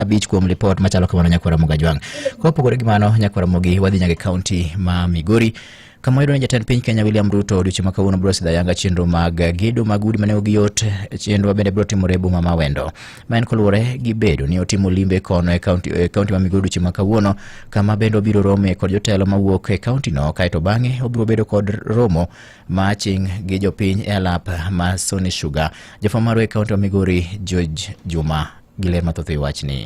abich kuom lipot machalo kamano nyakwara moga jwang kopogore gi mano nyakwara mogi wadhi nyaka e kaunti ma migori kama yudo ni jatend piny kenya william ruto odiochieng' ma kawuono biro sidha yanga chenro mag gedo mag udi mane ogi yot chenrowa bende biro timore e boma ma wendo ma en koluwore gi bedo ni otimo limbe kono e kaunti e kaunti ma migori odiochieng' ma kawuono kama bende obiro rome kod jotelo mawuok e kauntino kaeto bang'e obiro bedo kod romo ma ching' gi jopiny e alap ma sony sugar jafwamb marwa e kaunti ma migori george juma gi ler mathoth e wachni.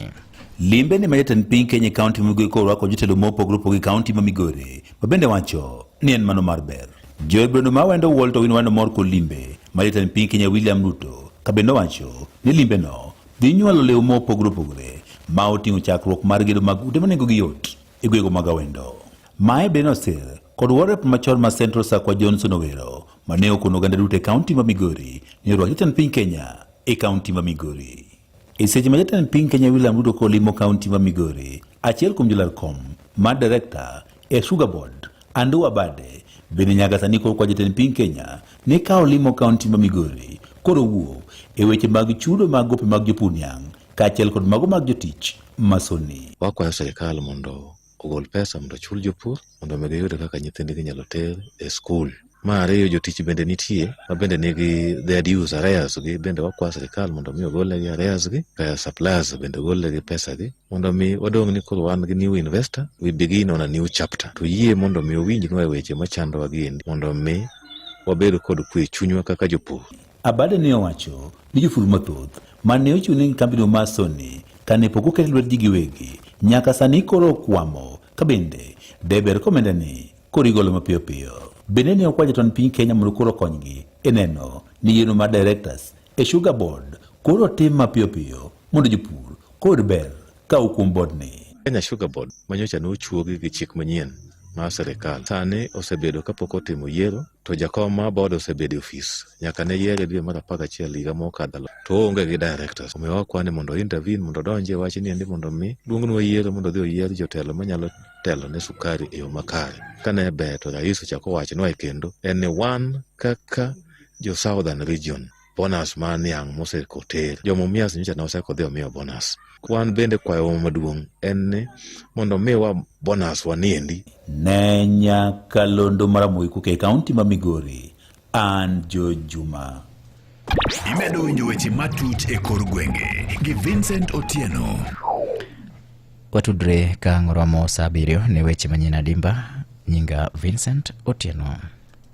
Limbe ni ma jatend piny Kenya e kaunti ma Migori korwako jotelo mopogore opogore e kaunti ma Migori ma bende wacho ni en mano mar ber. Joel Brendo ma wendo wuol to win wendo mor kod limbe ma jatend piny Kenya William Ruto ka bende owacho ni limbeno dhi nyuolo lew mopogore opogore ma oting'o chakruok mar gedo mag ute ma nengogi yot e gwego mag awendo. Mae bende nosir kod warep machon ma Central Sakwa Johnson Owero ma ne okono oganda duto e kaunti ma Migori ni orwak jatend piny Kenya e kaunti ma Migori. E seche ma jatend piny Kenya William Ruto kolimo kaunti ma Migori, achiel kuom jolar kom ma direkta e Sugar Board, Andrew Abade, bende nyaka sani koro kwa jatend piny Kenya ni ka olimo kaunti ma Migori koro wuo e weche mag chudo mag gope mag jopur niang' kaachiel kod mago mag jotich masoni. Wakwayo sirkal mondo ogol pesa mondo ochul jopur mondo mi giyud kaka nyithindgi inyalo ter e skul. Mar ariyo jotich bende nitie ma bende nigi their dues arrears gi bende wakwa sirikal mondo mi ogolnegi arrears gi kaya suppliers bende ogolnegi pesa gi mondo mi wadong' ni koro wan gi new investor we begin on a new chapter to yie mondo mi owinjnwa e weche machandowa gi endi mondo mi wabed kod kwe e chunywa kaka jopur. Abade ne owacho ni joful mathoth ma ne ochiw ne kambino mar Sony kane pok oket lwetgi giwegi nyaka sani koro okwamo ka bende deber komenda ni koro igolo mapiyo piyo. Bende ne okwa jatond piny Kenya mondo koro okonygi e neno ni yiero mar directors e Sugar Board koro otim mapiyo piyo mondo jopur kod ber ka okuom bodni. Kenya Sugar Board manyocha ne ochuogi gi chik manyien mar sirkal sani osebedo kapok otimo yiero To jakom ma board osebedo e ofis nyaka ne yiere dwe mar apar gachiel higa mokadho to oonge gi directors. Omiyo wakwane mondo intervene mondo odonje e wachni endi mondo mi duong'ne oyiere mondo odhi oyier jotelo manyalo telo ne sukari e yo makare. Ka ne ber to rais ochako wachnwa e kendo en ni wan kaka jo southern region bonus ma niang' mosekoter jomumias nyocha ne osekodhi omiyo bonus wan bende kwayowa maduong' en ni mondo omiwa bonus waniendi ne nyakalondo mar Amoy Kuke e kaunti ma Migori, an Joe Juma. Imedo winjo weche matut e kor gwenge gi Vincent Otieno. Watudre ka ng'oromo saa abiriyo ne weche manyien adimba. Nyinga Vincent Otieno.